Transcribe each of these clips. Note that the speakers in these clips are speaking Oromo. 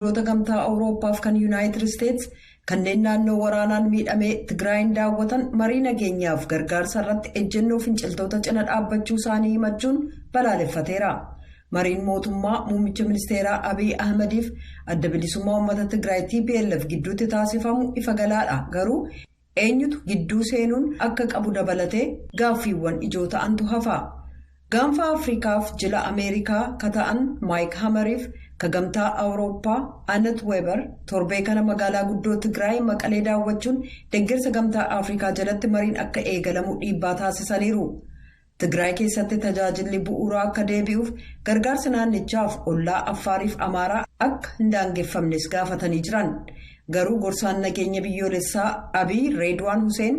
Biyyoota Gamtaa Awurooppaaf kan Yunaayitid Isteets kanneen naannoo waraanaan miidhamee Tigraayiin daawwatan marii nageenyaaf gargaarsa irratti ejjennoo finciltoota cina dhaabbachuu isaanii himachuun balaaleffateera. Mariin mootummaa muummicha ministeeraa Abiy Ahimadiif Adda Bilisummaa Uummata Tigraay, tplf, gidduutti taasifamu ifa galaadha, garuu, eenyutu gidduu seenuun akka qabu dabalatee gaaffiiwwan ijoo ta'antu hafa. Gaanfa Afrikaaf jila Ameerikaa ka ta'an Maayik Hamariif ka Gamtaa Awurooppaa Anet Weeber torbee kana magaalaa guddoo Tigraay Maqalee daawwachuun deggersa Gamtaa Afrikaa jalatti mariin akka eegalamu dhiibbaa taasisaniiru. Tigraay keessatti tajaajilli bu'uuraa akka deebi'uuf gargaarsi naannichaaf ollaa Affaariif Amaaraa akka hin daangeffamnes gaafatanii jiran. Garuu gorsaan nageenya biyyoolessaa Abiy Reedwaan Huseen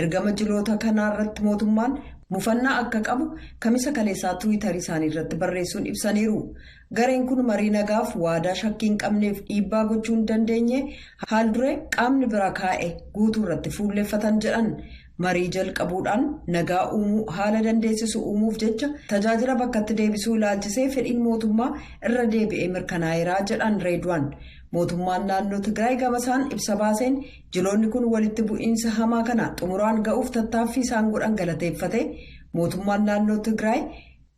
ergama jiloota kanaa irratti mootummaan mufannaa akka qabu Kamisa kaleessaa Tiwiitarii isaanii irratti barreessuun ibsaniiru. Gareen kun marii nagaaf waadaa shakkii hin qabneef dhiibbaa gochuu hin dandeenye haal-duree qaamni bira kaa'e guutuu irratti fuulleffatan jedhan. Marii jalqabuudhaan nagaa uumuu haala dandeessisu uumuuf jecha tajaajila bakkatti deebisuu ilaalchisee fedhiin mootummaa irra deebi'ee mirkanaa'eeraa jedhan Reedwaan. Mootummaan naannoo Tigraay gamasaan ibsa baaseen jiloonni kun walitti bu'iinsa hamaa kana xumuraan ga'uuf tattaaffii isaan godhan galateeffatee mootummaan naannoo Tigraay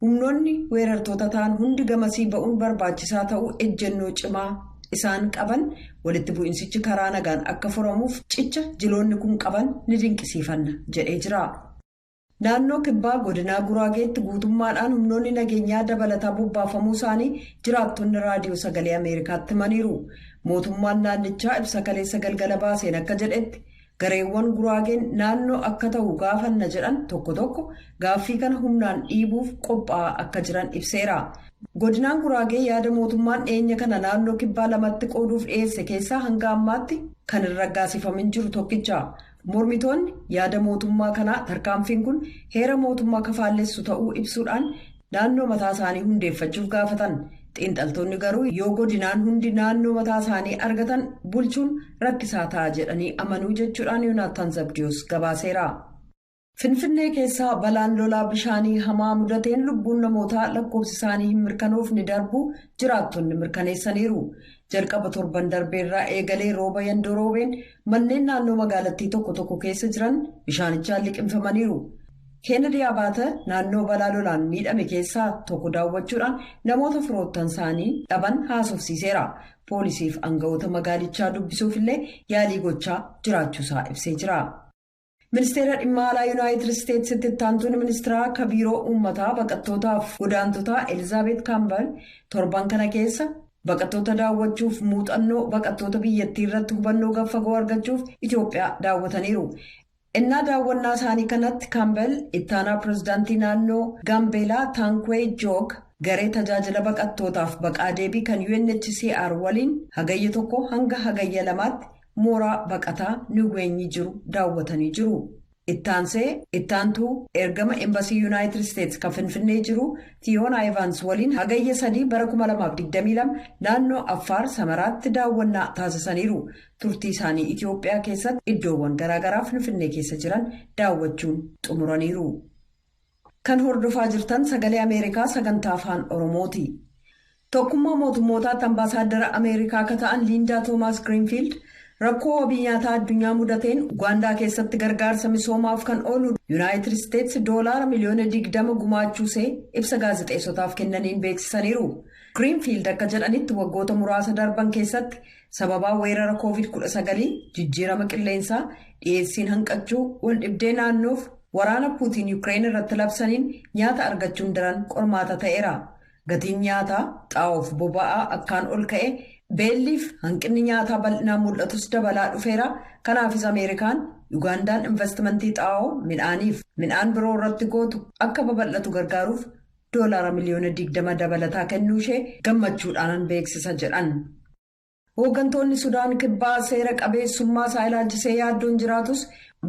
Humnoonni weerartoota ta'an hundi gamasii ba'uun barbaachisaa ta'uu ejjennoo cimaa isaan qaban walitti bu'insichi karaa nagaan akka furamuuf cicha jiloonni kun qaban ni dinqisiifanna jedhee jira. Naannoo Kibbaa Godinaa Guraageetti guutummaadhaan humnoonni nageenyaa dabalataa bobbaafamuu isaanii jiraattonni Raadiyoo Sagalee Ameerikaatti himaniiru. Mootummaan naannichaa ibsa kaleessa galgala baaseen akka jedhetti Gareewwan Guraageen naannoo akka tahu gaafanna jedhan tokko tokko gaaffii kana humnaan dhiibuuf qophaa'aa akka jiran ibseera. Godinaan Guraagee yaada mootummaan dhiyeenya kana naannoo Kibbaa lamatti qooduuf dhiyeesse keessaa hanga ammaatti kan hin raggaasifamin jiru tokkicha. Mormitoonni yaada mootummaa kanaa tarkaanfiin kun heera mootummaa ka faallessu ta'uu ibsuudhaan naannoo mataa isaanii hundeeffachuuf gaafatan. Xiinxaltoonni garuu yoo godinaan hundi naannoo mataa isaanii argatan bulchuun rakkisaa ta'a jedhanii amanuu jechuudhaan Yoonaattaan Zabdiyoos gabaaseera. Finfinnee keessaa balaan lolaa bishaanii hamaa mudateen lubbuun namootaa lakkoofsi isaanii hin mirkanoofne darbuu jiraattonni mirkaneessaniiru. Jalqaba torban darbeerraa eegalee rooba yandoo roobeen manneen naannoo magaalattii tokko tokko keessa jiran bishaanichaan liqimfamaniiru. Keenedii Abaata naannoo balaa lolaan miidhame keessaa tokko daawwachuudhaan namoota firoottan isaanii dhaban haasofsiiseera. Poolisiif angawoota magaalichaa dubbisuuf illee yaalii gochaa jiraachuusaa ibsee jira. Ministeera Dhimma Alaa Yunaayitid Isteetsitti ittaantuun ministiraa akka biiroo uummataa baqattootaaf godaantotaa Elizaabeet Kaambal torban kana keessa baqattoota daawwachuuf muuxannoo baqattoota biyyattii irratti hubannoo gad fagoo argachuuf Itoophiyaa daawwataniiru. Ennaa daawwannaa isaanii kanatti Kambel ittaanaa pirezidaantii naannoo Gaambeelaa Taankwee Joog garee tajaajila baqattootaaf baqaa deebii kan UNHCR waliin Hagayya 1 hanga Hagayya 2tti mooraa baqataa Niweenyi jiru daawwatanii jiru. Ittaansee ittaantuu ergama Embasii Yunaayitid Isteets kan Finfinnee jiru Fiyoonaa Evaans waliin Hagayya 3 bara 2022 naannoo Affaar Samaraatti daawwannaa taasisaniiru. Turtii isaanii Itiyoophiyaa keessatti iddoowwan garaagaraa Finfinnee keessa jiran daawwachuun xumuraniiru. Kan hordofaa jirtan sagalee Ameerikaa sagantaa afaan Oromooti. Tokkummaa mootummootaatti ambaasaaddara Ameerikaa akka ta'an Liindaa Toomaas Giriinfiild rakkoo wabii nyaataa addunyaa mudateen Ugaandaa keessatti gargaarsa misoomaaf kan oolu Yuunaayitid Isteets doolaara miliyoona 20 gumaachuusee ibsa gaazexeessotaaf kennaniin beeksisaniiru. Giriinfiild akka jedhanitti waggoota muraasa darban keessatti Sababaa weerara Covid 19, jijjiirama qilleensaa, dhiyeessiin hanqachuu, waldhibdee naannoof waraana Puutiin Yukireen irratti labsaniin nyaata argachuun daran qormaata ta'eera. Gatiin nyaataa, xaa'oof boba'aa akkaan ol ka'e, beelliif hanqinni nyaataa bal'inaan mul'atus dabalaa dhufeera, kanaafis Ameerikaan Yugaandaan invastimantii xaa'oo, midhaaniif midhaan biroo irratti gootu akka babal'atu gargaaruuf doolaara miliyoona 20 dabalataa kennuushee gammachuudhaanan beeksisa jedhan. Hooggantoonni Sudaan Kibbaa seera qabeessummaa isaa ilaalchisee yaaddoon jiraatus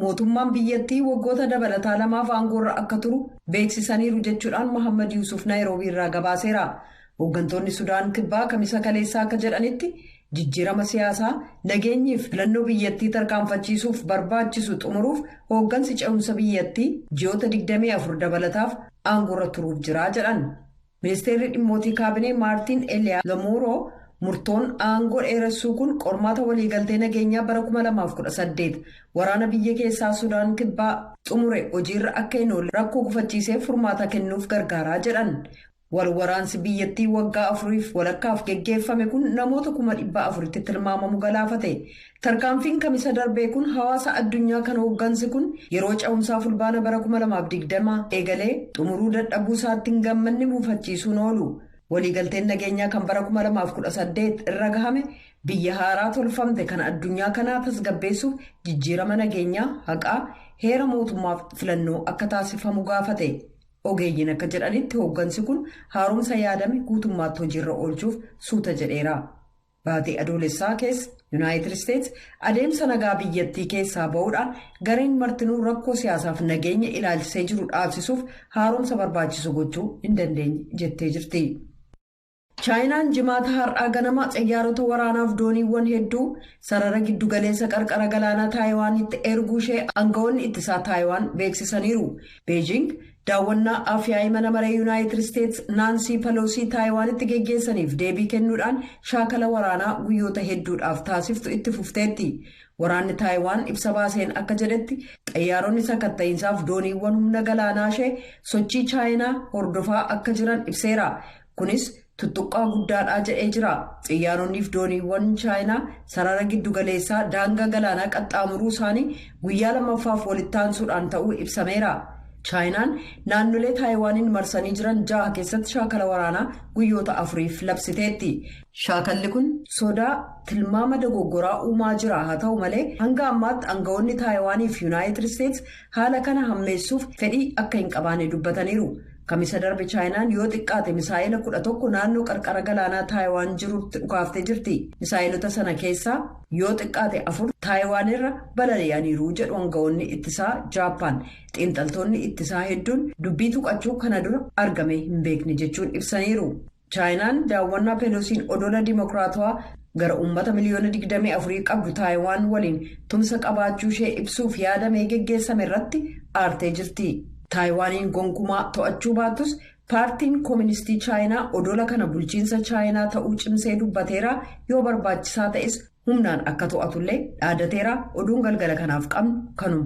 mootummaan biyyattii waggoota dabalataa lamaaf aangoorra akka turu beeksisaniiru jechuudhaan Mohammad Yuusuf Naayiroobii irraa gabaaseera. Hooggantoonni Sudaan Kibbaa kamisa kaleessaa akka jedhanitti Jijjiirama siyaasaa, nageenyii fi filannoo biyyattii tarkaanfachiisuuf barbaachisu xumuruuf hooggansi ce'umsa biyyattii ji'oota 24 dabalataaf aangoorra turuuf jira jedhan. Ministeerri Dhimmootii Kaabinee Maartiin Eliyaa Lomuuroo murtoon aangoo dheeressuu kun qormaata waliigaltee nageenyaa bara 2018 waraana biyya keessaa Sudaan Kibbaa xumure hojiirra akka hin oolle rakkoo gufachiiseef furmaata kennuuf gargaaraa jedhan. Wal waraansi biyyattii waggaa afuriif walakkaaf geggeeffame kun namoota kuma dhibba afuritti tilmaamamu galaafate. Tarkaanfiin kamisa darbee kun hawaasa addunyaa kan hooggansi kun yeroo cehumsaa fulbaana bara 2020 eegalee xumuruu dadhabuu isaatti hin gammanne muufachiisuun oolu. Waliigalteen nageenyaa kan bara 2018 irra gahame biyya haaraa tolfamte kan addunyaa kanaa tasgabbeessuuf jijjiirama nageenyaa, haqaa, heera mootummaaf filannoo akka taasifamu gaafate. Ogeeyyiin akka jedhanitti hooggansi kun haaromsa yaadame guutummaatti hojiirra oolchuuf suuta jedheera. Baatii Adoolessaa keessa Yunaayitid Isteets adeemsa nagaa biyyattii keessaa ba'uudhaan gareen martinuu rakkoo siyaasaaf nageenya ilaalchisee jiru dhaabsisuuf haaromsa barbaachisu gochuu hin dandeenye jettee jirti. Chaayinaan Jimaata har'aa ganama xiyyaarota waraanaaf dooniiwwan hedduu sarara giddugaleessa qarqara galaanaa Taayiwaanitti erguu ishee aangawoonni ittisaa Taayiwaan beeksisaniiru. Beejiing daawwannaa Afyaa'ii Mana Maree Yuunaayitid Isteets Naansii Paloosii Taayiwaanitti geggeessaniif deebii kennuudhaan shaakala waraanaa guyyoota hedduudhaaf taasiftu itti fufteetti. Waraanni Taayiwaan ibsa baaseen akka jedhetti xayyaaronni sakatta'iinsaaf dooniiwwan humna galaanaa ishee sochii Chaayinaa hordofaa akka jiran ibseera. Kunis tuttuqqaa guddaadhaa jedhee jira. Xiyyaaroniif dooniiwwan Chaayinaa sarara giddu galeessaa daangaa galaanaa qaxxaamuruu isaanii guyyaa lammaffaaf walitti aansuudhaan ta'uu ibsameera. Chaayinaan naannolee Taayiwaaniin marsanii jiran jaha keessatti shaakala waraanaa guyyoota afuriif labsiteetti. Shaakalli kun sodaa tilmaama dogoggoraa uumaa jira haa ta'u malee hanga ammaatti angawoonni Taayiwaaniif Yunaayitid Isteets Haala kana hammeessuuf fedhii akka hin qabaane dubbataniiru. Kamisa darbe Chaayinaan yoo xiqqaate misaa'ela 11 naannoo qarqara galaanaa Taayiwaan jirutti dhukaaftee jirti. Misaa'elota sana keessaa yoo xiqqaate afur Taayiwaan irra balali'aniiru jedhu angawoonni ittisaa Jaappaan. Xiinxaltoonni ittisaa hedduun dubbii tuqachuu kana dura argamee hin beekne jechuun ibsaniiru. Chaayinaan daawwannaa Pelosiin odola dimokiraatawaa gara uummata miliyoona 24 qabdu Taayiwaan waliin tumsa qabaachuu ishee ibsuuf yaadamee geggeessame irratti aartee jirti. Taayiwaaniin gonkumaa to'achuu baattus Paartiin Koministii Chaayinaa odola kana bulchiinsa Chaayinaa ta'uu cimsee dubbateera, yoo barbaachisaa ta'es humnaan akka to'atullee dhaadateera, oduun galgala kanaaf qabnu kanuma.